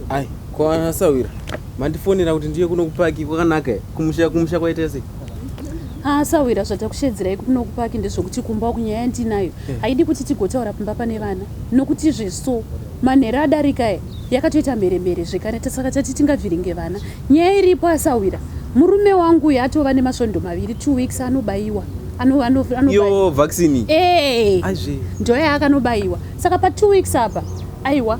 Ai, ko ana sawira. Mandifonera kuti ndiye kuno kupaki kwakanaka here? Kumusha kumusha kwaita sei? Ah, sawira zvatakushedzirai kuno kupaki ndezvokuti kumba uku nyaya yandinayo Eh. haidi kuti tigotaura pamba pane vana nokuti zveso manhero adarika e yakatoita mheremhere zvekare ta- saka tati tingavhiringe vana nyaya iripo asawira murume wangu uyu atova nemasvondo maviri two weeks anobayiwa ano, ano, anobayiwa Iyo vaccine. Eh, Aizve. ndoya akanobayiwa saka pa two weeks apa aiwa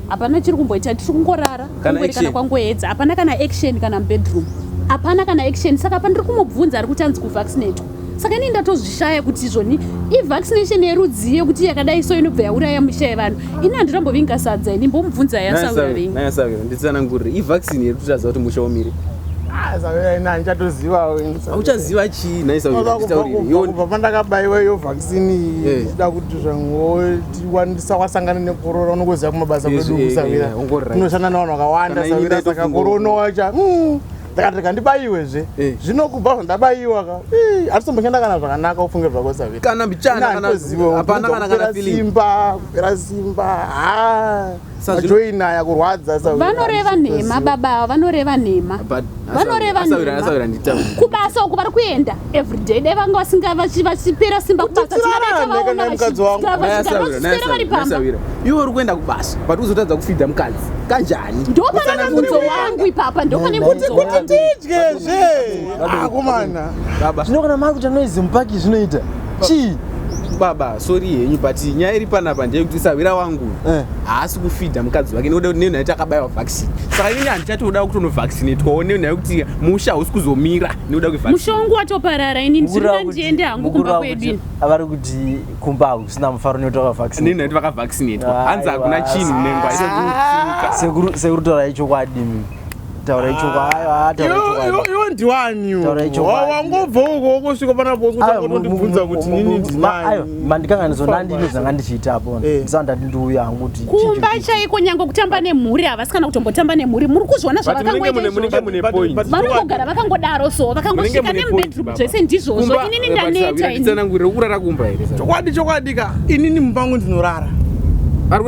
hapana chiri kumboita tiri kungorara kungoerekana kwangoedza hapana kana action kana mubedroom hapana kana action saka pandiri kumubvunza ari kuti anzi kuvaccinatwa saka inini ndatozvishaya kuti izvoni ivaccination yerudzii yekuti yakadai so inobva yauraya musha yevanhu ini handirambovinga sadza ini mbomubvunza yasauraiisanangurire ivaccine yekuti taziva kuti musha womire auchaziva chii naisauiii tiwandisa wasangana nekorona unongoziva kumabasa kwedu kusavira tinoshanda navanhu vakawanda savira saka korona wacha hmm, ndakati rega ndibaiwezve eh. zvino kubva zvandabaiwa ka atitomboshanda kana zvakanaka ufunge zvako savira kana mbichana kana zivo hapana kana kana simba kupera simba haa Joy naya kurwadza sa. Vanoreva nhema baba ava vanoreva nhema. Vanoreva nhema. Kubasa uko vari kuenda every day dai vanga vasinga vachipera simba kubasa tinavaona vachipera vari pamba. Iwe uri kuenda kubasa but uzotadza kufidha mukadzi kanjani? Ndopane mubvunzo wangu ipapa ndopane mubvunzo wangu. Kuti tidye zve. Akomana. Baba. Zvinokana mari kuti anoizi mupaki zvinoita. chii baba sori henyu but nyaya iri panapa ndeyekuti sahwira wangu eh. haasi kufidha mukadzi wake nekuda kuti nenyaya yekuti akabaiwa vaccine saka ini handichatoda kutonovaccinetwawo nenyaya yekuti musha hausi kuzomira nekuda kwemusha wangu watoparara ini ndinoda ndiende hangu kumba kwedu avari kuti kumba hakusina mufaro nekuti vakavaccine nenyaya yekuti vakavaccinetwa hanzi hakuna chinhu nengwa sekuru torai chokwadi taura ichuku ayo ah, taura ichuku iwe ndiwani taura ichuku wangobva uko wongosvika pana boss kuti akutondibvunza kuti nini ndinani ayo mandikanga ndizona ndini zvanga ndichiita apo eh. ndisana ndati ndiuya hangu kuti kumba chaiko nyange kutamba nemhuri havasi kana kutombotamba nemhuri muri kuzviona zvavakangoitavarikugara vakangodaro so vakangosvika nemubedroom zvese ndizvozvo inini ndaneta ini kurara kumba here chokwadi chokwadi ka inini mumba wangu ndinorara vari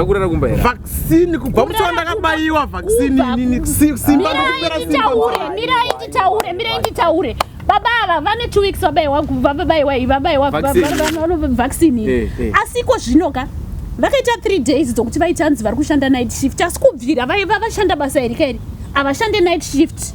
kurara kumba here vaccine kubva mucho ndakabaiwa vaccine inini simba ndokupera simba mirai nditaure mirai nditaure baba ava vane two weeks vabaiwa vabaiwa vabaiwa vaccine iyi eh, eh. asi iko zvino ka vakaita three days dzokuti vaita hanzi vari kushanda night shift asi kubvira vaiva vashanda basa iri kairi havashande night shift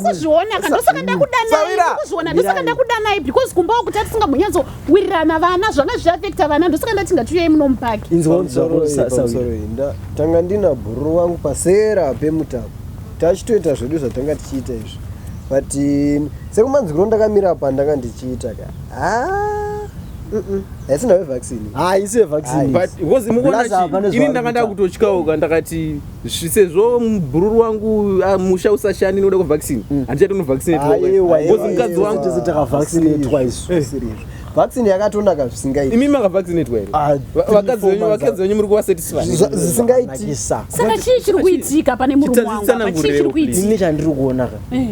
kuzviona ka ndosaka ndakudanaiuzviona ndosaka ndakudanai because kumba wakuti atisinga munyatso wirirana vana zvanga zviafekta vana ndosaka ndati ngatiuyei muno mupaki tanga ndina bhuru wangu pasera pemutapo tachitoita zvedu zvatanga tichiita izvi but sekumanzwiro ndakamira pa ndanga ndichiita ka haisi nayo vaccine haisi yevaccine but because mukuona ini ndanga ndakutotyauka ndakati sezvo mubhururu wangu ah, musha usashani noda kuvaccinate mm. handichati unovaccinatebecause mukadzi wangu tese takavaccinatwa isu eh. vaccine yakatonaka zvisingaiti imi makavaccinatwa here ah, vakadzi venyu muri kuvasatisfyzvisingaitiasaka chii chiri kuitika pane murume wangu chii chiri kuitika ini chandiri kuonaka eh.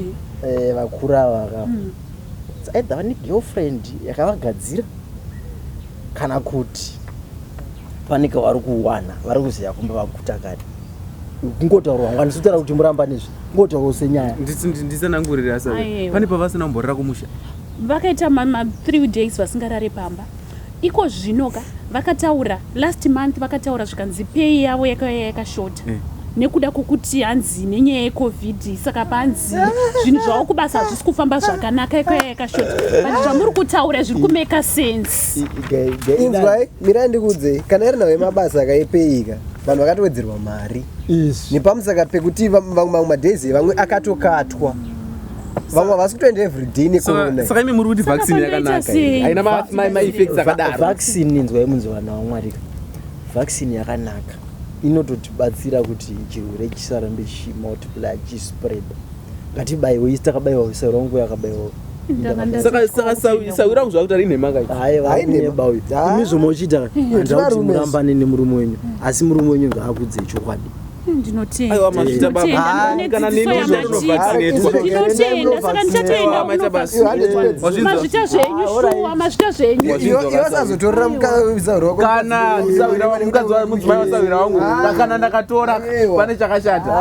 Eh, vakuru ava vakava mm. either vane girlfriend yakavagadzira kana kuti Pane kavari kuwana vari kuziva kumba vaguta kani kungotaurwa ngani sitaura kuti muramba nezvi kungotaurwa senyaya ndisanangurira sa pane pavasina kumborira kumusha vakaita mama three days vasingarare pamba iko zvino ka vakataura last month vakataura zvikanzi pei yavo yakauya yakashota eh. nekuda kwokuti hanzi nenyaya yecovid saka panzi zvinhu zvavo kubasa hazvisi kufamba zvakanaka ikauya yakashota but zvamuri kutaura zviri kumeka sense inzwai mirai ndikuudzei kana iri nhau yemabasa akaipeyika vanhu vakatowedzerwa mari nepamusaka pekuti vamwe madays vamwe akatokatwa vamwe havasi kutoenda everyday nekoronsaka imi muri kuti vaccine yakanaka haina maeffects akadaro vaccine inzwai munzi vana wamwarika vaccine yakanaka inototibatsira kuti chirwere chisarambe chimultiply chispread ngatibaiwe isi takabaiwa ise rongu yakabaiwa saka saka sawira kuzva kuti ari nhema kai haineba uyu imi zvomwe uchiita handida kuti murambane nemurume wenyu asi murume wenyu ngaakudze chokwadi ndinotiendaaaazvita zvenyuazotorera mukadzi wamudzimai wasawira wangu kana ndakatora pane chakashata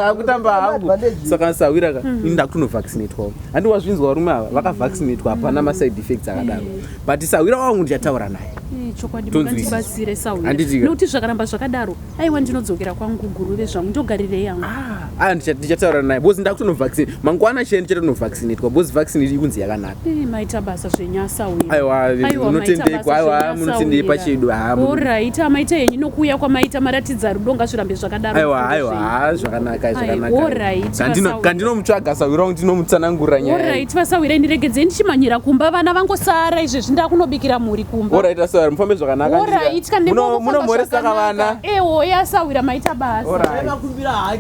akutamba hangu saka sahwira ka mhm. ini ndakutonovaccinatwawo handi wazvinzwa varume ava vakavaccinatwa hapana maside effects akadaro mhm. but sahwira wangu ndichataura naye eh, chokwadibatsire saunokuti zvakaramba zvakadaro aiwa ndinodzokera kwangu guruve zvangu ndogarirei yangu ah, ah, ndichataura naye bcause ndakutonovaccinate mangwana chee ndichatonovaccinatwa bcause vaccine ikunzi yakanaka maita basa zvenyasa uyoaiwaunotendekwa aiwa munotendei pachedu orit amaita henyu nokuuya kwamaita maratidza rudo ngazvirambe zvakadaro aiwa aiwa ha zvakanaka zvakanakandinomtsvaga sawira wangu ndinomutsanangurira nyaaorit vasawira indiregedzei ndichimhanyira kumba vana vangosara izvezvi ndakunobikira mhuri kumba orit asawira mufambe zvakanakaa orit kamunomhoresaka vana ehoya eh, asawira maita basa